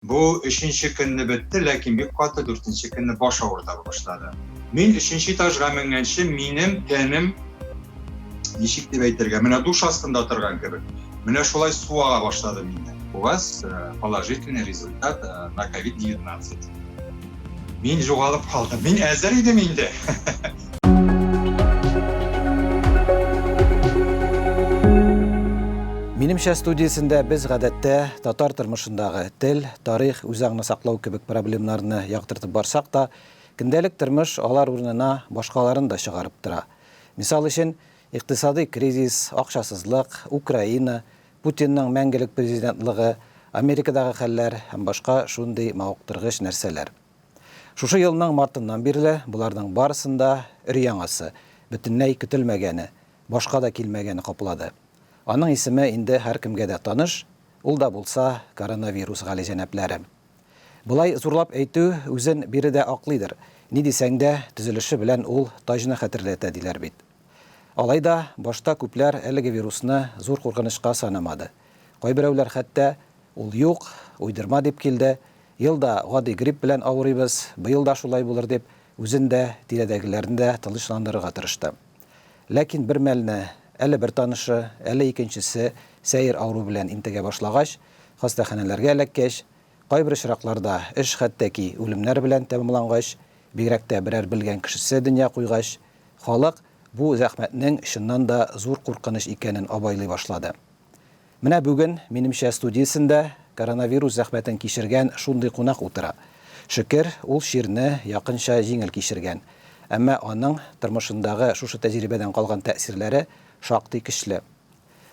Бу өченче көнне бетте, ләкин бик каты дүртенче көнне баш авырта башлады. Мин өченче этажга менгәнче минем тәнем ничек дип әйтергә, менә душ астында торган кебек. Менә шулай су ага башлады миндә. У вас э, положительный результат э, на COVID-19. Мин югалып калдым. Мин әзер идем инде. Минемчә студиясендә без гадәттә татар тормышындагы тел, тарих, үзаңны саклау кебек проблемнарны яктыртып барсак та, көндәлек тормыш алар урынына башкаларын да чыгарып тора. Мисал өчен, икътисадый кризис, акчасызлык, Украина, Путинның мәңгелек президентлыгы, Америкадагы хәлләр һәм башка шундый мавыктыргыч нәрсәләр. Шушы елның мартыннан бирле боларның барысын да өр-яңасы, бөтенләй көтелмәгәне, башка да килмәгәне каплады. Аның исеме инде һәркемгә дә таныш, ул да булса коронавирус, галиҗәнапләрем. Болай зурлап әйтү үзен биредә аклыйдыр, ни дисәң дә, төзелеше белән ул таҗны хәтерләтә, диләр бит. Алай да, башта күпләр әлеге вирусны зур куркынычка санамады. Кайберәүләр хәтта, Ул юк, уйдырма дип килде, ел да гади грипп белән авырыйбыз, быел да шулай булыр дип, үзен дә, тирәдәгеләрне дә тынычландырырга тырышты. Ләкин бермәлне әле бер танышы, әле икенчесе сәер авыру белән интегә башлагач, хастаханәләргә эләккәч, Кайбер очракларда эш хәтта ки үлемнәр белән тәмамлангач, бигрәк тә берәр белгән кешесе дөнья куйгач, халык бу зәхмәтнең чыннан да зур куркыныч икәнен абайлый башлады. Менә бүген, минемчә, студиясендә коронавирус зәхмәтен кичергән шундый кунак утыра. Шөкер, ул чирне якынча җиңел кичергән. Әмма аның тормышындагы шушы тәҗрибәдән калган тәэсирләре шактый көчле.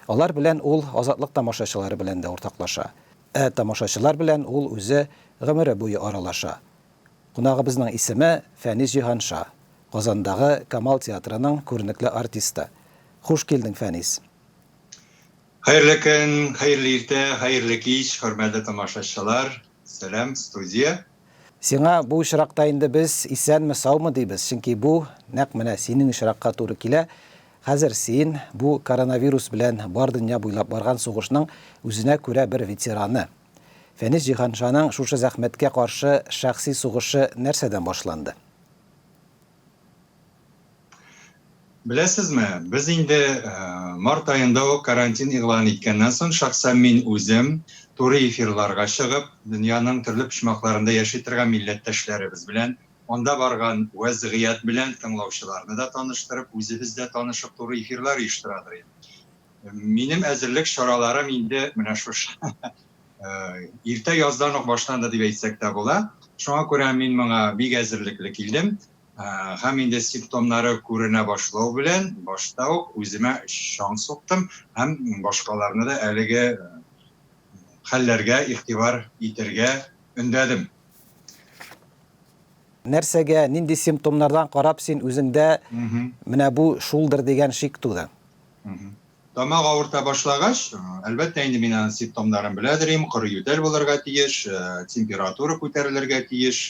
Алар белән ул Азатлык тамашачылары белән дә уртаклаша. Ә тамашачылар белән ул үзе гомере буе аралаша. Кунагыбызның исеме, Фәнис Җиһанша, Казандагы Камал театрының күренекле артисты. Хуш килдең, Фәнис! Хәерле көн, хәерле иртә, хәерле кич, хөрмәтле тамашачылар! Сәлам, студия! Сиңа бу очракта инде без исәнме, саумы дибез, чөнки бу нәкъ менә синең очракка туры килә. Хәзер син, бу коронавирус белән бар дөнья буйлап барган сугышның үзенә күрә бер ветераны. Фәнис Җиһаншаның шушы зәхмәткә каршы шәхси сугышы нәрсәдән башланды? Беләсезме, без инде март аенда ук карантин игълан иткәннән соң, шәхсән мин үзем туры эфирларга чыгып, дөньяның төрле почмакларында яши торган милләттәшләребез белән, анда барган вәзгыять белән тыңлаучыларны да таныштырып, үзебез дә танышып туры эфирлар оештырадыр идем. Минем әзерлек чараларым инде менә шушы иртә яздан ук башланды дип әйтсәк тә була. Шуңа күрә мин моңа бик әзерлекле килдем. Һәм инде симптомнары күренә башлау белән, башта ук үземә чаң суктым һәм башкаларны да әлеге хәлләргә игътибар итәргә өндәдем. Нәрсәгә, нинди симптомнардан карап син үзеңдә менә бу шулдыр дигән шик туды? Тамак авырта башлагач, әлбәттә инде мин аның симптомнарын беләдер идем, коры ютәл булырга тиеш, температура күтәрелергә тиеш,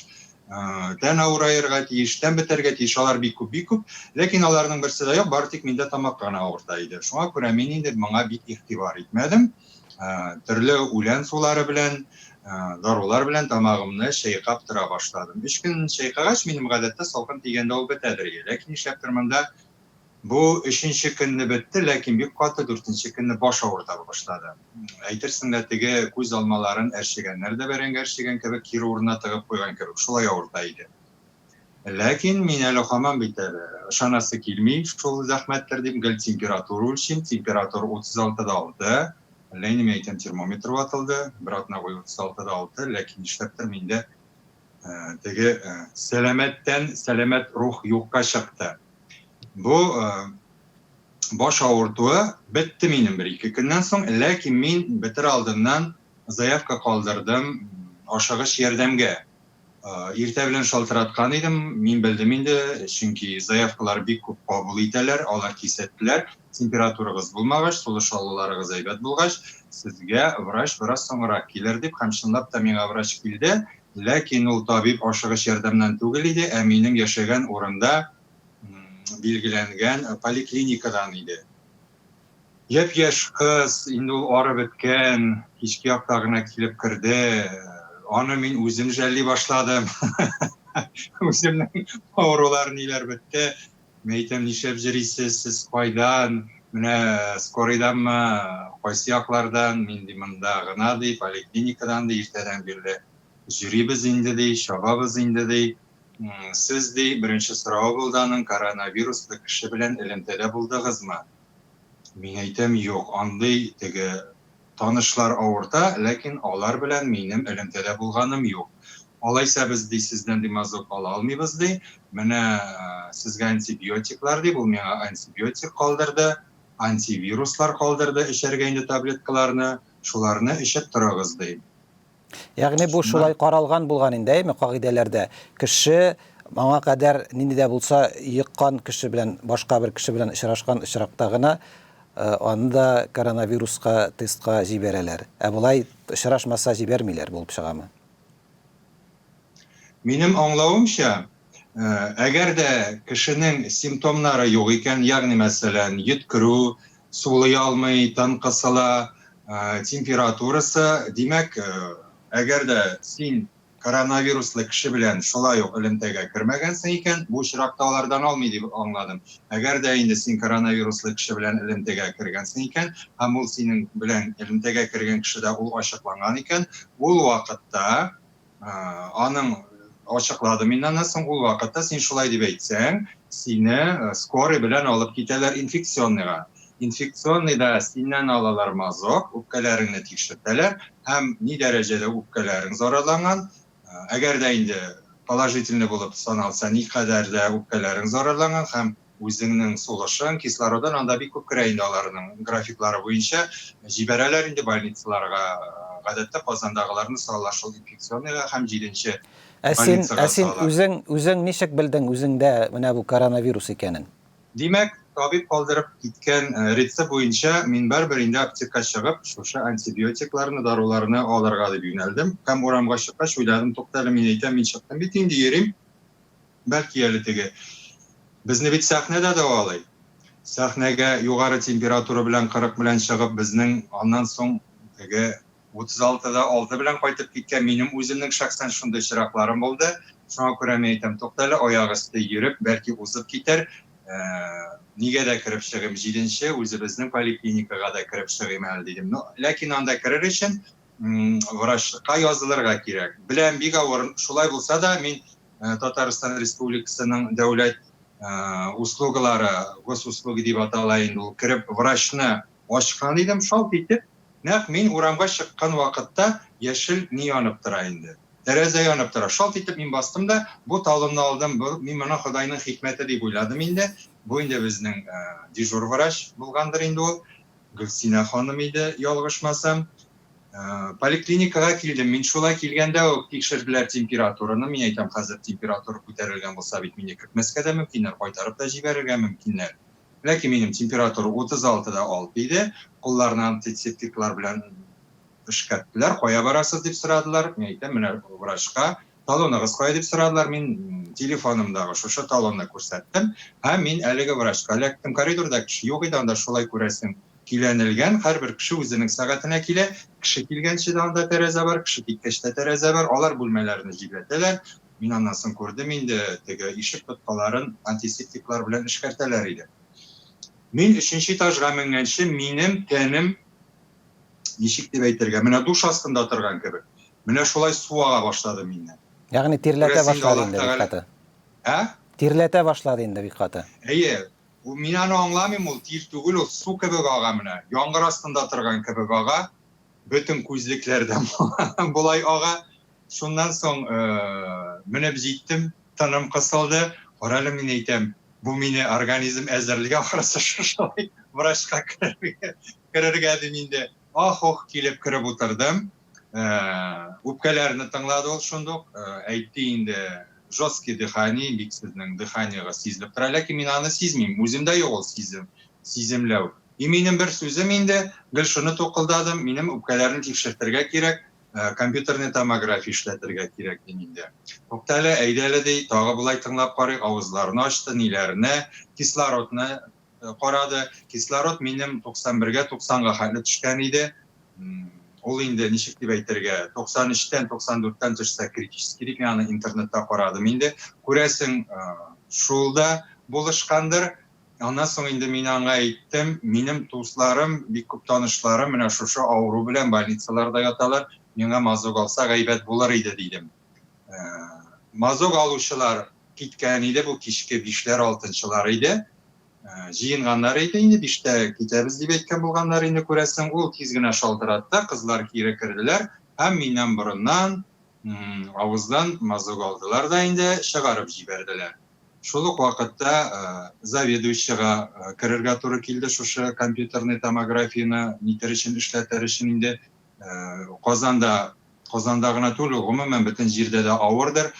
тән авыраерга тиеш, тән бетәргә тиеш, алар бик күп, бик күп. Ләкин аларның берсе дә юк, бары тик миндә тамак кына авырта иде. Шуңа күрә мин инде моңа бик игътибар итмәдем. Төрле үлән сулары белән, дарулар белән тамагымны чәйкап тора башладым. Өч көн чәйкагач, минем гадәттә салкын тигәндә ул бетәдер иде. Ләкин нишләптер монда Бу өченче көнне бетте, ләкин бик каты дүртенче көнне баш авырта башлады. Әйтерсең лә теге күз алмаларын әрчегәннәр дә бәрәңге әрчегән кебек кире урынына тыгып куйган кебек шулай авырта иде. Ләкин мин әле һаман бит әле, ышанасы килми, шул зәхмәттер дип гел температура үлчим, температура 36 да 6, әллә инде мин әйтәм термометр ватылды, бер атна буе 36 да 6, ләкин нишләптер миндә теге сәламәттән сәламәт рух юкка чыкты. Бу баш авыртуы бетте минем бер ике көннән соң, ләкин мин бетер алдыннан заявка калдырдым ашыгыч ярдәмгә. Иртә белән шалтыраткан идем, мин белдем инде, чөнки заявкалар бик күп кабул итәләр, алар кисәттеләр, температурагыз булмагач, сулыш алуларыгыз әйбәт булгач, сезгә врач бераз соңрак килер дип, һәм чынлап та миңа врач килде, Ләкин ул табиб ашыгыч ярдәмнән түгел иде, ә минем яшәгән урында билгеләнгән поликлиникадан иде. Япь-яшь кыз, инде ул арып беткән, кичке якта гына килеп керде. Аны мин үзем жәлли башладым. Үземнең авырулар ниләр бетте. Мин әйтәм, нишләп җөрисез, сез кайдан, менә скорыйданмы, кайсы яклардан, мин ди монда гына ди, поликлиникадан ди, иртәдән бирле җөрибез инде ди, чабабыз инде ди. Сез ди, беренче соравы булды аның, коронавируслы кеше белән элемтәдә булдыгызмы? Мин әйтәм, юк, андый теге Танышлар авырта, ләкин алар белән минем элемтәдә булганым юк. Алайса без, ди, сездән димазок ала алмыйбыз, ди. Менә сезгә антибиотиклар, дип, ул миңа антибиотик калдырды, антивируслар калдырды, эчәргә инде таблеткаларны, шуларны эчеп торыгыз, ди. Ягъни бу шулай каралган булган инде, әйме, кагыйдәләрдә. Кеше моңа кадәр нинди дә булса йыккан кеше белән, башка бер кеше белән очрашкан очракта гына э, аны да коронавируска тестка җибәрәләр. Ә болай очрашмаса җибәрмиләр булып чыгамы? Минем аңлавымча, Әгәр дә кешенең симптомнары юк икән, ягъни мәсәлән, йөткерү, сулый алмый, тын кысыла, температурасы, димәк, әгәр дә син коронавируслы кеше белән шулай ук элемтәгә кермәгәнсең икән, бу очракта алардан алмый дип аңладым. Әгәр дә инде син коронавируслы кеше белән элемтәгә кергәнсең икән һәм ул синең белән элемтәгә кергән кешедә ул ачыкланган икән, ул вакытта, Аның ачыклады мин аны соң ул вакытта син шулай дип әйтсәң сине э, скорый белән алып китәләр инфекционныйга инфекционныйда синнән алалар мазок үпкәләреңне тикшертәләр һәм ни дәрәҗәдә үпкәләрең зарарланган э, әгәр дә инде положительный булып саналса никадәр дә үпкәләрең зарарланган һәм Үзеңнең сулышың, кислородың анда бик күп керә инде аларның графиклары буенча. Җибәрәләр инде больницаларга. Гадәттә Казандагыларны салалар шул инфекционныйга һәм җиденче больницага салалар. Ә син үзең, үзең ничек белдең үзеңдә менә бу коронавирус икәнен? Димәк, табиб калдырып киткән рецепт буенча мин барыбер инде аптекага чыгып, шушы антибиотикларны, даруларны алырга дип юнәлдем. Һәм урамга чыккач уйладым, туктале, мин әйтәм, мин чыктым бит инде, йөрим. Бәлки әле теге Безне бит сәхнә дә дәвалый. Сәхнәгә югары температура белән 40 белән чыгып, безнең аннан соң теге 36-да 6 белән кайтып киткән минем үземнең шәхсән шундый чиракларым булды. Шуңа күрә мин әйтәм, тукта әле, аяк өсте йөреп, бәлки узып китәр. Ә, нигә дә кереп чыгыйм, җиденче үзебезнең поликлиникага да кереп чыгыйм әле дидем. Но, ләкин анда керер өчен врачка язылырга кирәк. Беләм, бик авыр. Шулай булса да, мин э, Татарстан Республикасының дәүләт э, услугалары, госуслуги дип атала инде ул, кереп врачны ачкан идем, шалт итеп, нәкъ мин урамга чыккан вакытта яшел ни янып тора инде. Тәрәзә янып тора. Шалт итеп мин бастым да, бу талымны алдым. Бу, мин моны Ходайның хикмәте дип уйладым инде. Бу инде безнең э, дежур врач булгандыр инде ул. Гөлсинә ханым иде, ялгышмасам. Поликлиникага килдем мин, шулай килгәндә үк тикшерделәр температураны, мин әйтәм, хәзер температура күтәрелгән булса бит мине кертмәскә дә мөмкиннәр, кайтарып та җибәрергә мөмкиннәр. Ләкин минем температура 36 да 6 иде, кулларны антисептиклар белән эшкәрттеләр, кая барасыз дип сорадылар, мин әйтәм, менә врачка, Талоныгыз кая дип сорадылар, мин телефонымдагы шушы талонны күрсәттем һәм мин әлеге врачка эләктем. Коридорда кеше юк иде, анда шулай күрәсең, киләнелгән, һәрбер кеше үзенең сәгатенә килә, кеше килгәнче дә анда тәрәзә бар, кеше киткәч тә тәрәзә бар, алар бүлмәләрне җилләтәләр, мин аннан соң күрдем инде, теге ишек тоткаларын антисептиклар белән эшкәртәләр иде. Мин өченче этажга менгәнче минем тәнем ничек дип әйтергә, менә душ астында торган кебек. Менә шулай су ага башлады миннән. Ягъни тирләтә башлады инде бик каты. Ә? Тирләтә башлады инде бик каты. Әйе. Ул мин аны аңламыйм, ул тир түгел, ул су кебек ага менә. Яңгыр астында торган кебек ага. Бөтен күзлекләр дә болай ага. Шуннан соң, менә җиттем, тыным кысылды. Карале, мин әйтәм, бу мине организм әзерли ахрысы шушылай врачка керергә дим инде. Ах-ух килеп кереп утырдым. Үпкәләрне тыңлады ул шундук, әйтте инде, жесткий дыхание, бик сезнең дыханиегыз сизелеп тора, ләкин мин аны сизмим, үземдә юк ул сизем, сиземләү. И минем бер сүзем инде, гел шуны тукылдадым, минем үпкәләрне тикшертергә кирәк, Ә, компьютерный томография эшләтергә кирәк дим инде. Тукта әле, әйдә әле, ди, тагы болай тыңлап карыйк, авызларын ачты, ниләренә, кислородны э, карады. Кислород минем 91-гә, 90-га хәтле төшкән иде. Ул инде ничек дип әйтергә, 93-тән, 94-тән төшсә критический дип, мин аны интернетта карадым инде. Күрәсең, э, шул да булышкандыр. Аннан соң инде мин аңа әйттем, минем дусларым, бик күп танышларым менә шушы авыру белән больницаларда яталар, миңа мазок алса гайбәт булыр иде, дидем. Мазок алучылар киткән иде, бу кичке бишләр, алтынчылар иде. Җыенганнар иде инде, биштә китәбез дип әйткән булганнар инде, күрәсең. Ул тиз генә шалтыратты, кызлар кире керделәр һәм миннән борыннан Авыздан мазок алдылар да инде чыгарып җибәрделәр. Шул ук вакытта заведующийга керергә туры килде, шушы компьютерный томографияне нитер өчен, эшләтер өчен инде. Казанда, Казанда гына түгел, гомумән бөтен җирдә дә авырдыр.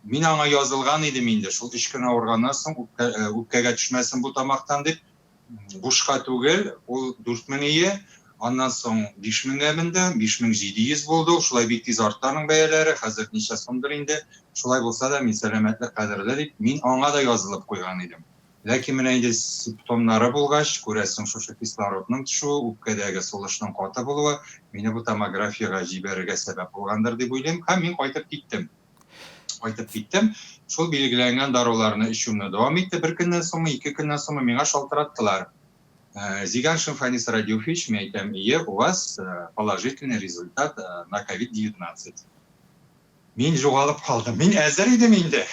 Мин аңа язылган идем инде, шул өч көн авырганнан соң үпкәгә төшмәсен бу тамактан дип, бушка түгел, ул дүрт меңие, аннан соң биш меңгә менде, биш мең җиде йөз булды ул, шулай бик тиз артты аның бәяләре, хәзер ничә сумдыр инде, шулай булса да, мин сәламәтлек кадерле дип, мин аңа да язылып куйган идем. Ләкин менә инде симптомнары булгач, күрәсең, шушы кислородның төшүе, үпкәдәге сулышның каты булуы, мине бу томографиягә җибәрергә сәбәп булгандыр дип уйлыйм һәм мин кайтып киттем. Кайтып киттем. Шул билгеләнгән даруларны эчүемне дәвам итте. Бер көннән соңмы, ике көннән соңмы миңа шалтыраттылар. Э, Зиганшин Фанис Радюфич, мин әйтәм, ие, у вас э, положительный результат э, на COVID-19. Мин жоғалып қалдым. Мин әзер идем инде.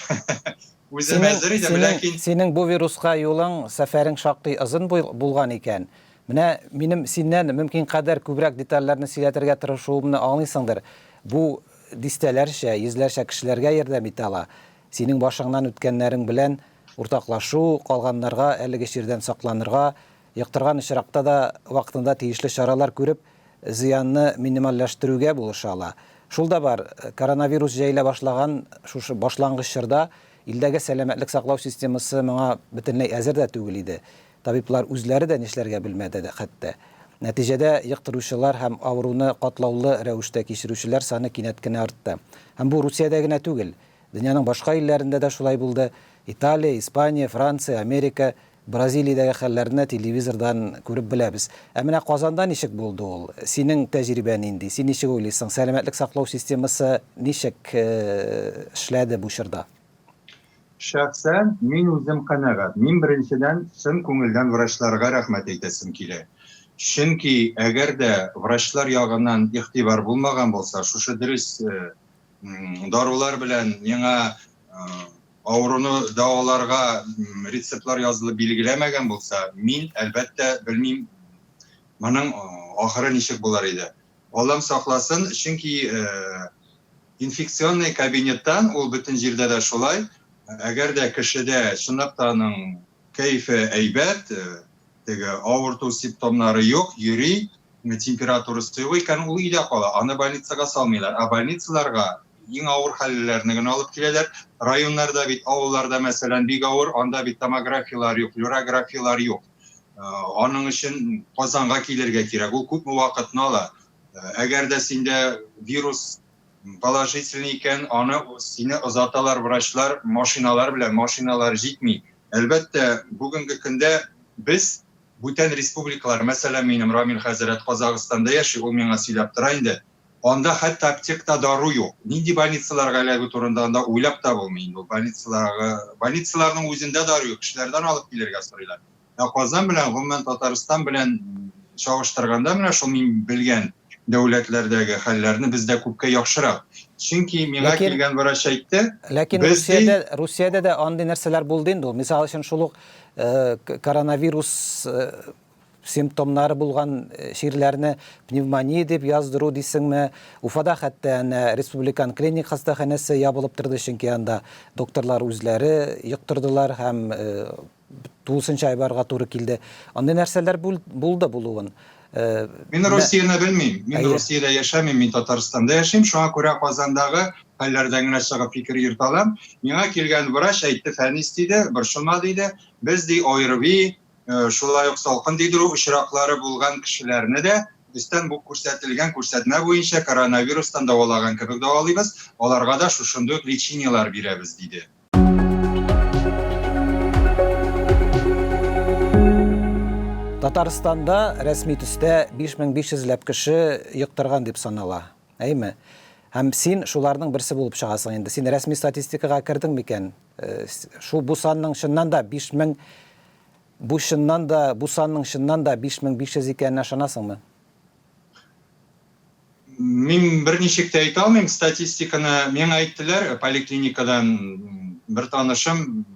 Үзем Синең- әзер идем, синең- ләкин Синең бу вируска юлың, сәфәрең шактый озын бул- булган икән. Менә минем синнән мөмкин кадәр күбрәк детальләрне сөйләтергә тырышуымны аңлыйсыңдыр. Бу Дистәләрчә, йөзләрчә кешеләргә ярдәм итә ала. Синең башыңнан үткәннәрең белән уртаклашу, калганнарга әлеге чирдән сакланырга, йоктырган очракта да вакытында тиешле чаралар күреп, зыянны минимальләштерүгә булыша ала. Шул да бар, коронавирус җәелә башлаган шушы башлангыч чорда илдәге сәламәтлек саклау системасы моңа бөтенләй әзер дә түгел иде. Табиблар үзләре дә нишләргә белмәде хәтта. Нәтиҗәдә, йоктыручылар һәм авыруны катлаулы рәвештә кичерүчеләр саны кинәт кенә артты. Һәм бу Русиядә генә түгел. Дөньяның башка илләрендә дә шулай булды. Италия, Испания, Франция, Америка, Бразилиядәге хәлләрне телевизордан күреп беләбез. Ә менә Казанда ничек булды ул? Синең тәҗрибә нинди? Син ничек уйлыйсың, сәламәтлек саклау системасы ничек эшләде бу чорда? Шәхсән мин үзем канәгать. Мин беренчедән чын күңелдән врачларга рәхмәт әйтәсем килә. Чөнки әгәр дә врачлар ягыннан игътибар булмаган булса, шушы дөрес дарулар белән миңа авыруны дәваларга рецептлар язылып билгеләмәгән булса, мин, әлбәттә, белмим, моның ахыры ничек булыр иде. Аллам сакласын, чөнки инфекционный кабинеттан, ул бөтен җирдә дә шулай, әгәр дә кешедә чынлап та аның кәефе әйбәт, теге авырту симптомнары юк, йөри, температурасы юк икән, ул өйдә кала, аны больницага салмыйлар. Ә больницаларга иң авыр хәллеләрне генә алып киләләр. Районнарда бит, авылларда, мәсәлән, бик авыр, анда бит томографияләр юк, флюорографияләр юк. Аның өчен Казанга килергә кирәк. Ул күпме вакытны ала. Әгәр дә синдә вирус положительный икән, аны сине озаталар врачлар машиналар белән, машиналар җитми. Әлбәттә, бүгенге көндә без бүтән республикалар, мәсәлән, минем Рамил хәзрәт Казагыстанда яши, ул миңа сөйләп тора инде, Анда хәтта аптекта дару юк. Нинди больницаларга эләгү турында анда уйлап та булмый инде. Ул больницаларга, больницаларның үзендә дару юк, кешеләрдән алып килергә сорыйлар. Ә Казан белән, гомумән, Татарстан белән чагыштырганда, менә шул мин белгән дәүләтләрдәге хәлләрне бездә күпкә яхшырак. Чөнки миңа Ләкин- килгән врач әйтте, Ләкин без ди- Русиядә, Русиядә дә андый нәрсәләр булды инде ул. Мисал өчен шул ук э, к- коронавирус э, Симптомнары булган чирләрне пневмония дип яздыру дисеңме? Уфада хәтта әнә республикан клиник хастаханәсе ябылып торды, чөнки анда докторлар үзләре йоктырдылар һәм тулысынча айбарга туры килде. Андый нәрсәләр булды булуын. Мин Русияне белмим. Мин Русиядә яшәмим, мин Татарстанда яшим, шуңа күрә Казандагы хәлләрдән генә чыгып фикер йөртә алам. Миңа килгән врач әйтте, Фәнис диде, борчылма диде, без ди ОРВИ, Э, шулай ук салкын тидерү очраклары булган кешеләрне дә өстән бу күрсәтелгән күрсәтмә буенча коронавирустан дәвалаган кебек дәвалыйбыз, аларга да шушындый ук лечениеләр бирәбез, диде. Татарстанда рәсми төстә 5500 ләп кеше йоктырган дип санала. Әйме? Һәм син шуларның берсе булып чыгасың инде. Син рәсми статистикага кердең микән? Шул бу санның чыннан да 5000 бу чыннан да бу санның чыннан да 5500 икәненә ышанасыңмы? Мин берничек тә әйтә алмыйм, статистиканы миңа әйттеләр поликлиникадан бер танышым,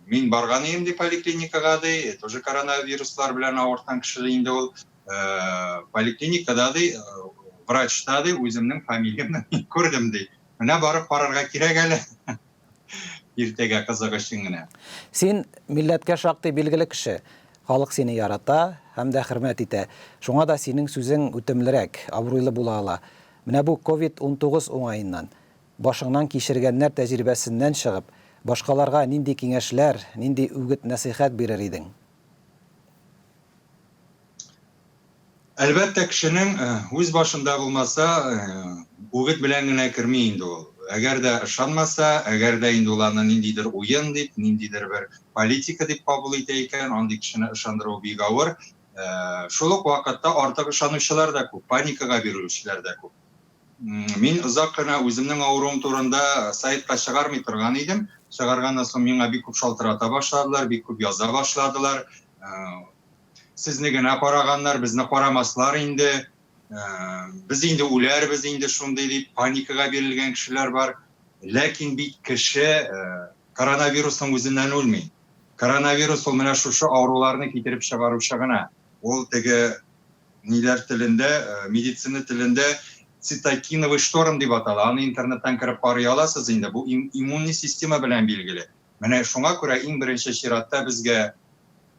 мин барган идем ди поликлиникага ди, тоже коронавируслар белән авырткан кеше ди инде ул. э, поликлиникада ди э, врачта ди үземнең фамилиямне күрдем ди менә барып карарга кирәк әле иртәгә кызык өчен генә син милләткә шактый билгеле кеше халык сине ярата һәм дә хөрмәт итә шуңа да синең сүзең үтемлерәк абруйлы була ала менә бу covid 19 уңаеннан башыңнан кичергәннәр тәҗрибәсеннән чыгып башкаларга нинди киңәшләр нинди үгет нәсыйхәт бирер идең Әлбәттә, кешенең э, үз башында булмаса, э, үгет белән генә керми инде ул. Әгәр дә ышанмаса, әгәр дә инде ул аны ниндидер уен дип, ниндидер бер политика дип кабул итә икән, андый кешене ышандыру бик авыр. Э, шул ук вакытта артык ышанучылар да күп, паникага бирелүчеләр дә күп. Мин озак кына үземнең авыруым турында сайтка чыгармый торган идем. Чыгарганнан соң миңа бик күп шалтырата башладылар, бик күп яза башладылар. Сезне генә караганнар, безне карамаслар инде. Без инде үләрбез инде шундый дип паникага бирелгән кешеләр бар. Ләкин бит кеше коронавирусның үзеннән үлми. Коронавирус ул менә шушы авыруларны китереп чыгаручы гына. Ул теге ниләр телендә, медицина телендә цитокиновый шторм дип атала. Аны интернеттан кереп карый аласыз инде. Бу иммунный система белән билгеле. Менә шуңа күрә иң беренче чиратта безгә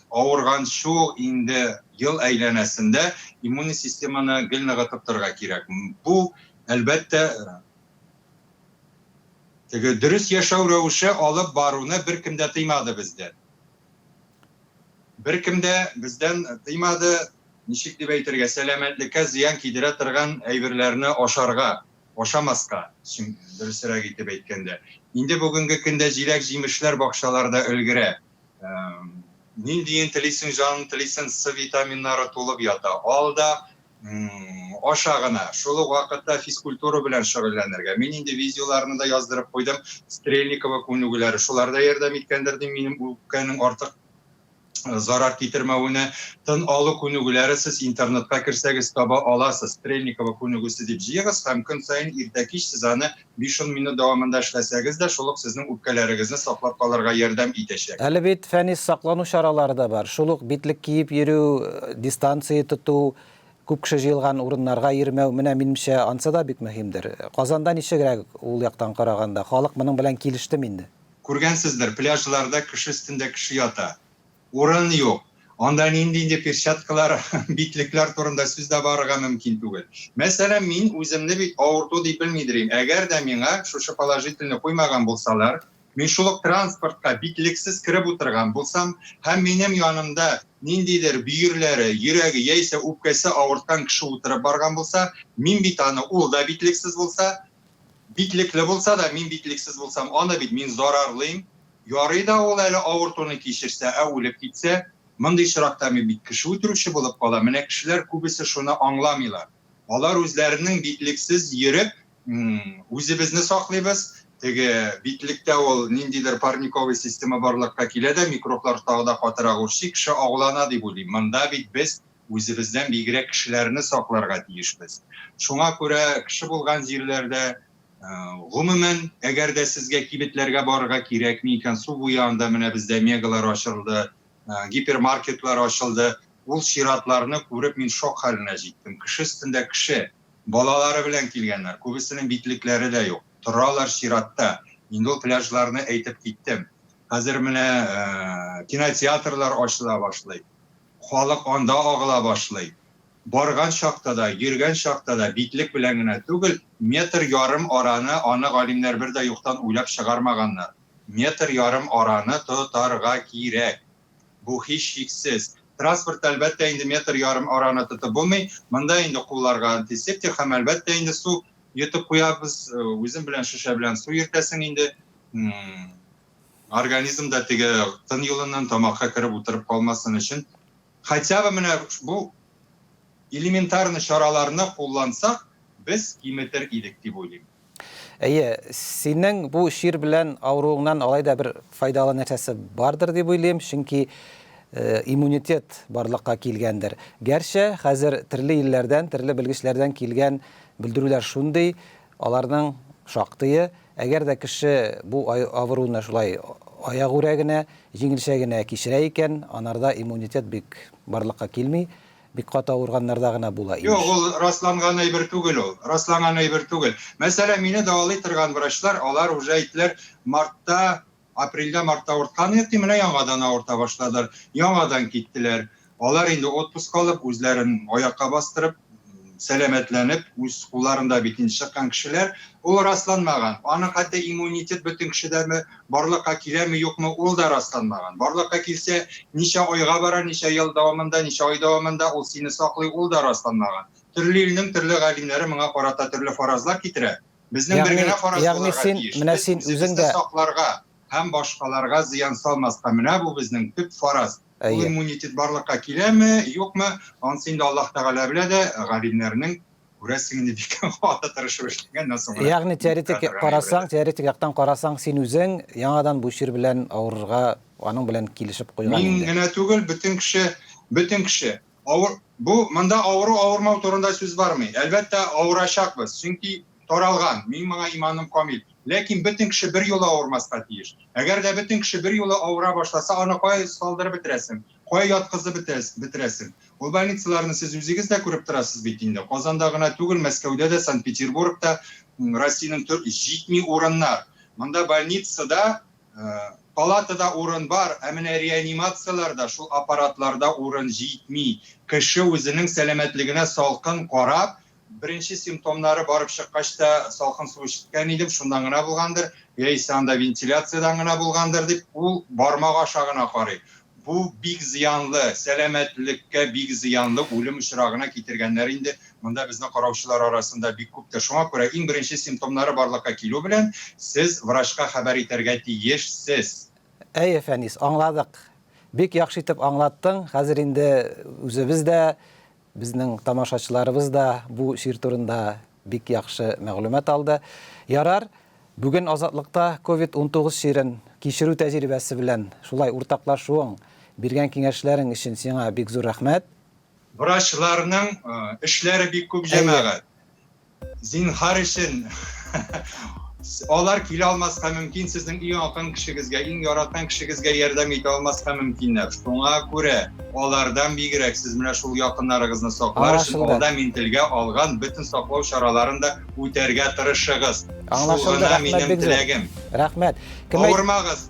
авырган шул инде ел әйләнәсендә иммунный системаны гел ныгытып торырга кирәк. Бу, әлбәттә, теге дөрес яшәү рәвеше алып баруны беркем дә тыймады бездән. Беркем дә бездән тыймады, ничек дип әйтергә, сәламәтлеккә зыян кидерә торган әйберләрне ашарга, ашамаска, дөресрәк итеп әйткәндә. Инде бүгенге көндә җиләк-җимешләр бакчаларда өлгерә. Ниндиен телисең, җаның телисен, С витаминнары тулып ята. Ал да, аша гына шул ук вакытта физкультура белән шөгыльләнергә. Мин инде видеоларны да яздырып куйдым. Стрельникова күнегүләре шулар да ярдәм иткәндер дим минем үпкәнең артык э, зарар китермәвенә. Тын алу күнегүләре сез интернетка керсәгез таба аласыз. Стрельникова күнегүсе дип җыегыз һәм көн саен иртә кич сез аны Биш-ун минут дәвамында эшләсәгез дә, шул ук сезнең үпкәләрегезне саклап калырга ярдәм итәчәк. Әле бит фәнис саклану чаралары да бар, шул ук битлек киеп йөрү, дистанция тоту, күп кеше җыелган урыннарга йөрмәү, менә, минемчә, ансы да бик мөһимдер. Казанда ничегрәк ул яктан караганда, халык моның белән килештеме инде? Күргәнсездер, пляжларда кеше өстендә кеше ята. Урын юк. Анда нинди инде перчаткалар, битлекләр турында сүз дә барырга мөмкин түгел. Мәсәлән, мин үземне бит авырту дип белмидер им. Әгәр дә миңа шушы положительны куймаган булсалар, мин шул ук транспортка битлексез кереп утырган булсам һәм минем янымда ниндидер бөерләре, йөрәге яисә үпкәсе авырткан кеше утырып барган булса, мин бит аны, ул да битлексез булса, битлекле булса да, мин битлексез булсам, аны бит мин зарарлыйм. Ярый да ул әле авыртуны кичерсә, ә үлеп китсә? Мондый очракта мин бит кеше үтерүче булып калам. Менә кешеләр күбесе шуны аңламыйлар. Алар үзләренең битлексез йөреп, үзебезне саклыйбыз, теге битлектә ул ниндидер парниковый система барлыкка килә дә, микроблар тагы да катырак үрчи, кеше агулана дип уйлыйм. Монда бит без үзебездән бигрәк кешеләрне сакларга тиешбез. Шуңа күрә кеше булган җирләрдә Гомумән, әгәр дә сезгә кибетләргә барырга кирәкми икән, су буе анда менә бездә мегалар ачылды, гипермаркетлар ачылды. Ул чиратларны күреп мин шок хәленә җиттем. Кеше өстендә кеше. Балалары белән килгәннәр. Күбесенең битлекләре дә юк. Торалар чиратта. Инде ул пляжларны әйтеп киттем. Хәзер менә кинотеатрлар ачыла башлый. Халык анда агыла башлый. Барган чакта да, йөргән чакта да битлек белән генә түгел, метр ярым араны аны галимнәр бер дә юктан уйлап чыгармаганнар. Метр ярым араны тотарга кирәк. Бу һичшиксез. Транспортта, әлбәттә инде, метр ярым араны тотып булмый. Монда инде кулларга антисептик һәм, әлбәттә инде, су йотып куябыз. Үзең белән шешә белән су йөртәсең инде. Организмда теге тын юлыннан тамакка кереп утырып калмасын өчен Хотя бы менә бу элементарный чараларны куллансак, без киметер идек дип уйлыйм. Әйе, синең бу чир белән авыруыңнан алай да бер файдалы нәрсәсе бардыр дип уйлыйм, чөнки иммунитет барлыкка килгәндер. Гәрчә, хәзер терле илләрдән, терле белгечләрдән килгән белдерүләр шундый, аларның шактые Әгәр дә кеше бу авыруны шулай аягүрә генә, җиңелчә генә кичерә икән, анарда иммунитет бик барлыкка килми, бик каты авырганнарда гына була, имеш. Юк, ул расланган әйбер түгел ул. Расланган әйбер түгел. Мәсәлән, мине дәвалый торган врачлар, алар уже әйттеләр, мартта Апрельдә мартта авырткан идек, ди, менә яңадан авырта башладылар. Яңадан киттеләр. Алар инде отпуск алып, үзләрен аякка бастырып, сәламәтләнеп, үз кулларында бит инде чыккан кешеләр. Ул расланмаган. Аның хәтта иммунитет бөтен кешедәме, барлыкка киләме, юкмы, ул да расланмаган. Барлыкка килсә, ничә айга бара, ничә ел дәвамында, ничә ай дәвамында ул сине саклый, ул да расланмаган. Төрле илнең төрле галимнәре моңа карата төрле фаразлар китерә. Безнең бер генә фараз булырга тиеш, без үзебезне сакларга һәм башкаларга зыян салмаска, менә бу безнең төп фараз. Ул иммунитет барлыкка киләме, юкмы, анысы инде Аллаһ Тәгалә белә дә, галимнәрнең, күрәсең, инде бик каты тырышып эшләгәннән соң гына. Ягъни теоретик карасаң, теоретик яктан карасаң, син үзең яңадан бу чир белән авырырга, аның белән килешеп куйган инде. Мин генә түгел, бөтен кеше, бөтен кеше. Авыр, бу монда авыру авырмау турында сүз бармый. Әлбәттә, авырачакбыз, чөнки таралган, минем моңа иманым камил. Ләкин бөтен кеше берьюлы авырмаска тиеш. Әгәр дә бөтен кеше берьюлы авыра башласа, аны кая салдырып бетерәсең, кая яткызып бетерәсең? Ул больницаларны сез үзегез дә күреп торасыз бит инде. Казанда гына түгел, Мәскәүдә дә, Санкт-Петербургта, Россиянең төр, җитми урыннар. Монда больницада Палатада урын бар, ә менә реанимацияләрдә шул аппаратларда урын җитми. Кеше үзенең сәламәтлегенә салкын карап, беренче симптомнары барып чыккач та салкын су эчкән идем, шуннан гына булгандыр, яисә анда вентиляциядән гына булгандыр дип, ул бармак аша гына карый. Бу бик зыянлы, сәламәтлеккә бик зыянлы үлем очрагына китергәннәр инде. Монда безнең караучылар арасында бик күптер. Шуңа күрә иң беренче симптомнары барлыкка килү белән сез врачка хәбәр итәргә тиешсез. Әйе, Фәнис, аңладык. Бик яхшы итеп аңлаттың, хәзер инде үзебез дә Безнең тамашачыларыбыз да бу чир турында бик яхшы мәгълүмат алды. Ярар, бүген Азатлыкта Ковид-19 чирен кичерү тәҗрибәсе белән шулай уртаклашуың, биргән киңәшләрең өчен сиңа бик зур рәхмәт. Врачларның эшләре бик күп, җәмәгать. Зинхар өчен алар килә алмаска мөмкин, сезнең иң якын кешегезгә, иң яраткан кешегезгә ярдәм итә алмаска мөмкиннәр. Шуңа күрә алардан бигрәк сез менә шул якыннарыгызны саклар өчен алда мин телгә алган бөтен саклау чараларын да үтәргә тырышыгыз. Шул гына минем теләгем. Рәхмәт. Кем Авырмагыз.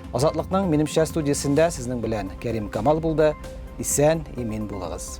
Азатлыкның минемчә студиясендә сезнең белән Кәрим Камал булды. Исән, имин булыгыз.